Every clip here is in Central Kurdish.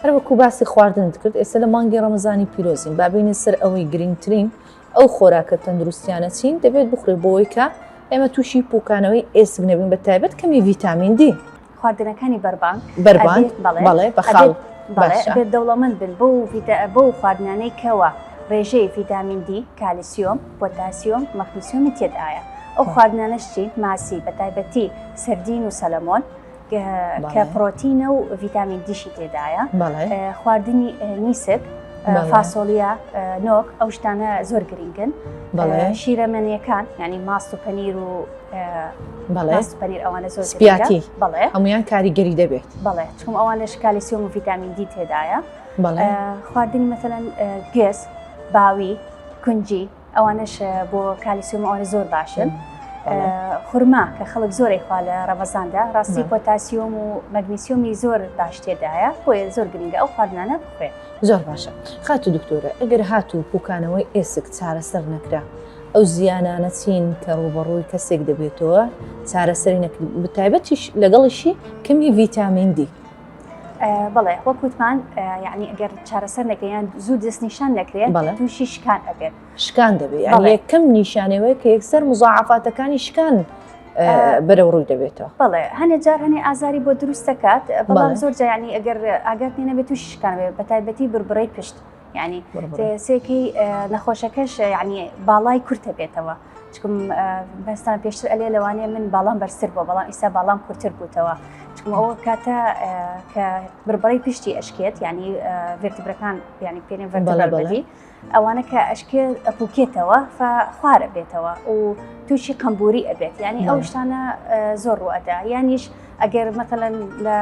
هەر وەکو باسی خواردنت کرد ئێستا لە مانگی ڕەمەزانی پیرۆزین با بێینە سەر ئەوەی گرنگترین ئەو خۆراکە تەندروستیانە چین دەبێت بخورێت بۆوەی کە ئێمە تووشی پوکانەوەی ئێسک نەبین بە تایبەت کەمی ڤیتامین دی. خواردنەکانی بەربانگ بەربانگ بەڵێ بە خاڵ بەڵێ دەوڵەمەند بن بۆ بۆ خواردنانەی کەوە ڕێژەی ڤیتامین دی کالیسیۆم پۆتاسیۆم مەغنیسیۆمی تێدایە ئەو خواردنانەشتی ماسی بە تایبەتی سەردین و سەلەمۆن کە پرۆتینە و ڤیتامین دیشی تێدایە خواردنی نیسک فاسۆڵە نۆک ئەو شتانە زۆر گرنگن شیرەمەنیەکان ینی ماست و پەنیر و بەڵێست پەنیر ئەوانە زۆر سپیاتی بڵێ هەمویان کاریگەری دەبێت بڵێ چون ئەوانە شکالی سیۆم و ڤیتامین دی تێدایە خواردنی مەمثلەن گوێز باوی کونجی ئەوانەش بۆ کالیسیۆم ئەوانە زۆر باشن خورما کە خەڵک زۆری خوا لە ڕەمەزاندا ڕاستی پۆتاسیۆم و مەگنیسیۆمی زۆر باش تێدایە بۆیە زۆر گرنگە ئەو خواردنانە بخوێن زۆر باشە خات و دکتۆرە ئەگەر هات و پوکانەوەی ئێسک چارەسەر نەکرا ئەو زیانانە چین کە ڕوبەڕووی کەسێک دەبێتەوە چارەسەری نەکرد بتایبەتیش لەگەڵیشی کەمی ڤیتامین دی بڵێ وەک وتمان یعنی ئەگەر چارەسەر نەکەیان زوو دەستنیشان نەکرێت بەڵێ تووشی شکان ئەبێت شکان دەبێت یەکەم نیشانەوەی کە یەکسەر مزعافاتەکانی شکان بەرەو ڕووی دەبێتەوە بڵێ هەنێ جار هەنێ ئازاری بۆ دروست دەکات بەڵام زۆر جیانی ئەگەر ئاگات نێ نەبێت تووشی شکان بێت بە تایبەتی بربڕی پشت ینی سێکی نەخۆشەکەش ینی باڵای کورتە بێتەوە چکم بەستان پێشتر ئەلێ لەوانەیە من باڵام بەرسر بۆ بەڵام ئیسا باڵام کورتتر بووتەوە چکم ئەوە کاتە کە بربڕی پشتی ئەشکێت ینی ڤێرتبرەکان ینی پێێن ڤەربەڵی ئەوانە کە ئەشکێ ئەپوکێتەوە خوارە بێتەوە و تووشی قمبوری ئەبێت ینی ئەو شتانە زۆر ڕوئەدا یانیش ئەگەر مەتەلەن لە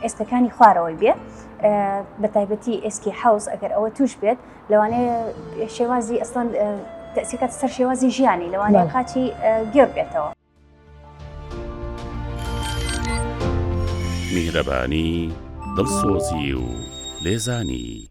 ئێستەکانی خوارەوەی بێت بە تایبەتی ئێسکی حوز ئەگەر ئەوە توش بێت لەوانەیە شێوازی ئەسڵەن تەسیکات سەر شێوازی ژیانی لەوانەیە کاتی گێر بێتەوە میهرەبانی دڵسۆزی و لێزانی